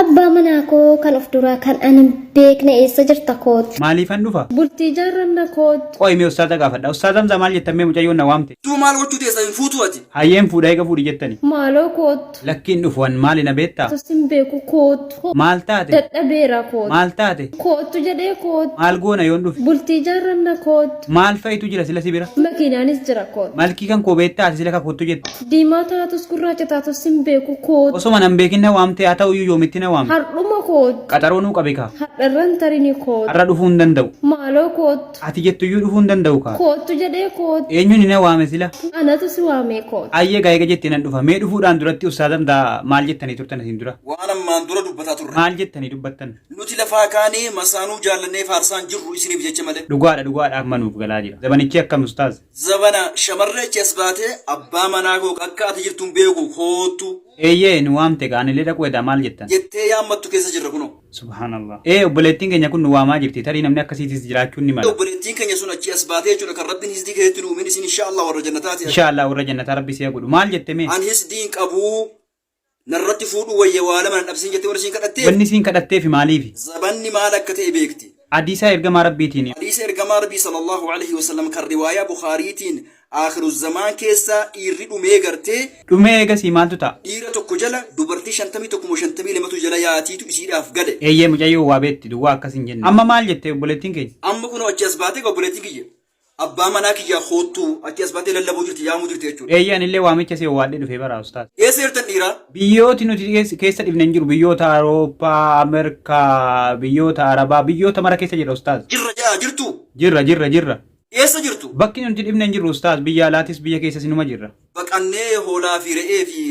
Abbaa manaa koo kan of duraa kan an hin beekne eessa jirta koot. Maaliifan dhufa? Bultii ijaarranna koot. Qoyi mee ustaaza gaafadha. Ustaaz Hamza maal jettan mee mucayyoon na waamte. Tuu maal gochuu teessa hin fuutuu ati. Hayyee hin fuudha eega fuudhi jettani. Maaloo koottu. Lakki hin dhufu an maali na beetta? Tus hin beeku koottu. Maal taate? Dadhabeera koottu. Maal taate? Koottu jedhee koottu. Maal goona yoon dhufe? Bultii ijaarranna koottu. Maal fa'itu jira sila si bira? Makiinaanis jira koottu. Malkii kan koo beetta ati sila ka koottu jette? Diimaa taatus gurraacha taatus sin beeku koot. Osoma nan beekin na waamte haa ta'uyyuu yoomitti na waamte. Hardhuma koot. Qaxaroo nuu qabi kaa. Hardharran tarini koot. Har'a dhufuu hin danda'u. Maaloo koottu. Ati jettuyyuu dhufuu hin danda'u kaa. Koottu jedhee koottu. Eenyuni na waame sila? Anatu si waamee koottu. Hayyee egaa eega jette nan dhufa. Mee dhufuudhaan duratti ustaaza mdaa maal jettanii turtan asiin dura? Waan ammaan dura dubbataa turre. Maal jettanii dubbattan? Nuti lafaa kaanee masaanuu jaallannee faarsaa hin jirru isiniif jecha malee. Dhugaadha dhugaadha amma nuuf galaa jira. Zabanichii akkam ustaaz? Zabana shamarree achi as baatee abbaa manaa koo akka ati jirtu hin beeku koottu. Eeyyee nu waamte gaa anilee dhaquu edaa maal jettan. jettee yaammattu keessa jirra kunoo. Subhaanallah. Ee obboleettiin keenya kun nu waamaa jirti tarii namni akkasiitis jiraachuun ni Ee mala. obboleettiin keenya sun achii as baatee jechuudha kan Rabbiin hisdii keessatti nu uumin isiin inshaa Allah warra jannataati. Inshaa Allah warra jannataa Rabbi si haa godhu. Maal jette mee? An hisdii hin qabuu Narratti fuudhuu wayya waa lama na dhabsiin jettee warri siin kadhattee? Wanni isiin kadhatteefi maaliifi? Zabanni maal akka ta'e beekti. Hadiisa Ergamaa Rabbiitiin. Hadiisa Ergamaa Rabbii sallallaahu aleyhi wa sallam kan riwaayaa Bukhaariitiin Aakhiru Zamaan keessa dhiirri dhumee gartee. Dhumee eegasii maaltu ta'a? Dhiira tokko jala dubartii 51 moo 52tu jala yaatiitu isiidhaaf gale. Eeyyee mucayyoon waa beekti duwwaa akkas hin jenne. Amma maal jette obboleettiin keenya? Amma kunoo achii as baatee egaa obboleettiin kiyya. Abbaa manaa kiyyaa koottuu ati as baatee lallabuu jirti yaamuu jirti jechuudha. Eeyyee anillee waamicha si owwaadhee dhufee bara ustaaz. Eessa jirtan dhiiraa? Biyyooti nuti keessa dhifne hin jiru biyyoota Awurooppaa, Amerkaa, biyyoota Arabaa, biyyoota mara keessa jirra ustaaz. Jirra ja'aa jirtuu? Jirra jirra jirra. Eessa jirtu? Bakki nuti dhifne hin jirru ustaaz biyya alaatis biyya keessas inuma jirra. Baqannee hoolaa fi re'ee fi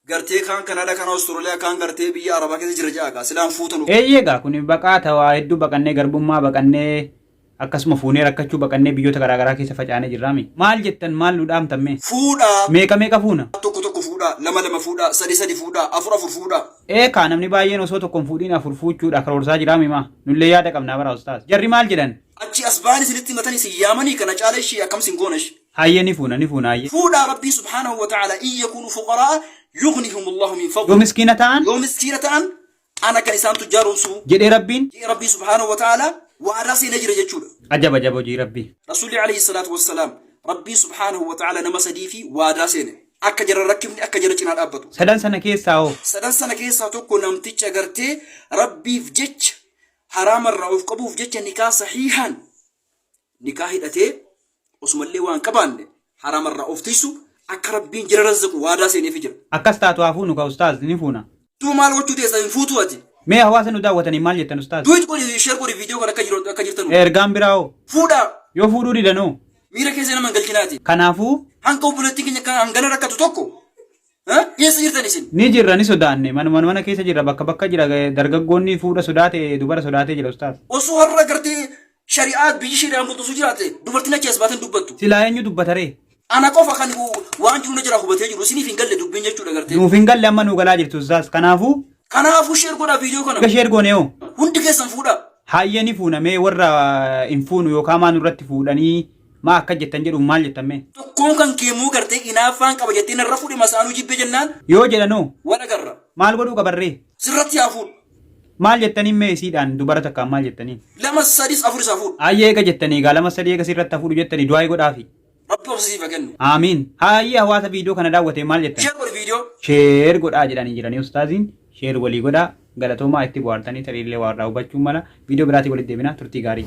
Gartee kaan Canada kaan Australia kaan gartee biyya Arabaa keessa jira ja'a gaa silaan fuuta nu. Eeyyee gaa kuni baqaa tawaa hedduu baqannee garbummaa baqannee akkasuma fuunee rakkachuu baqannee biyyoota garaa garaa keessa facaanee jirraami. Maal jettan maal nu dhaamtan mee? Fuudhaa. Meeqa meeqa fuuna? Tokko tokko fuudhaa, lama lama fuudhaa, sadi sadi fuudhaa, afur afur fuudhaa. Ee kaa namni baay'een osoo tokko hin fuudhiin afur fuuchuudha karoorsaa jiraami maa? Nullee yaada qabnaa bara ustaaz. Jarri maal jedhan? Achii as bahan isinitti himatani isin yaamani kana caala ishii akkam isin goona ishii. Hayyee ni fuuna ni fuuna hayyee. Fuudhaa Rabbiin subhaanahu wa ta'aalaa in yakuunu fuqaraa'a yughnihum Allaahu min fadlih. Yoo miskiina ta'an. Yoo miskiina ta'an ana kan isaan tujjaaromsu. Jedhee Rabbiin. Jedhee Rabbiin subhaanahu wa ta'aalaa waadaa seenee jira jechuudha. Ajab ajab hojii Rabbii. Rasuulli alayhi salaatu wassalaam Rabbiin subhaanahu wa ta'aalaa nama sadiifi waadaa seene. Akka jara rakkifne akka jara cinaa dhaabbatu. Sadan sana keessaa hoo. Sadan sana keessaa tokko namticha gartee Rabbiif jecha haraamarraa of qabuuf jecha nikaa sahiihaan nikaa hidhatee osumallee waan qabaanne haraamarraa of tiysu akka rabbiin jira razzaqu waadaa seeneefi jira. Akkas taatu haa fuunu kaa ustaaz ni fuuna. Duba maal gochuu teessa hin fuutuu ati. Mee hawaasa nu daawwataniin maal jettan ustaaz? Duwit godhi share godhi video kan akka jiru akka jirtanu. Ergaan biraa hoo? Fuudhaa. Yoo fuudhuu didan hoo? Miira keessa nama hin galchinaa ati. Kanaafuu. Hanga obboleettiin keenya kan hangana rakkatu tokko Ha? Eessa jirtan isin? Ni jirra ni sodaanne manuma mana keessa jirra bakka bakka jira dargaggoonni fuudha sodaate dubara sodaatee jira ustaaz. Osoo har'a gartee shari'aa biyyi shari'aan bultu osoo jiraate dubartiin achi as baatee hin dubbattu. Silaa eenyu dubbataree? Ana qofa kan waan jiru na jira hubatee jiru isiniif hin galle dubbiin jechuudha gartee. Nuuf hin galle amma nuu galaa jirtu ustaaz kanaafuu Kanaafuu sheer godhaa viidiyoo kana. Egaa sheer goone hoo? Hundi keessan fuudhaa. Haayya ni fuuna mee warra hin fuunu yookaan maa nurratti fuudhanii Maa akkas jettan jedhuun maal jettan mee? Tokkoon kan kee muu gartee inaaffaan qaba jettee narra fuudhi masaanuu jibbe jennaan. Yoo jedhan hoo? Wal agarra. Maal godhuu qaban ree? Sirratti haa fuudhu. Maal jettaniin mee isiidhaan dubara takkaan maal jettaniin? Lamas sadis afuris haa fuudhu. Hayyee eega jettanii egaa lamas sadii eega sirratti haa fuudhu jettanii du'aayi godhaafi. Rabbi obsa siif haa kennu. Aamiin. Hayyee hawaasa viidiyoo kana daawwatee maal jettan? Share godhi viidiyoo. Share godhaa jedhanii jiranii ustaaziin. Share walii godhaa. Galatoomaa itti bohaartanii tariillee waa irraa hubachuun mala. Viidiyoo biraatii walitti deebina turtii gaarii.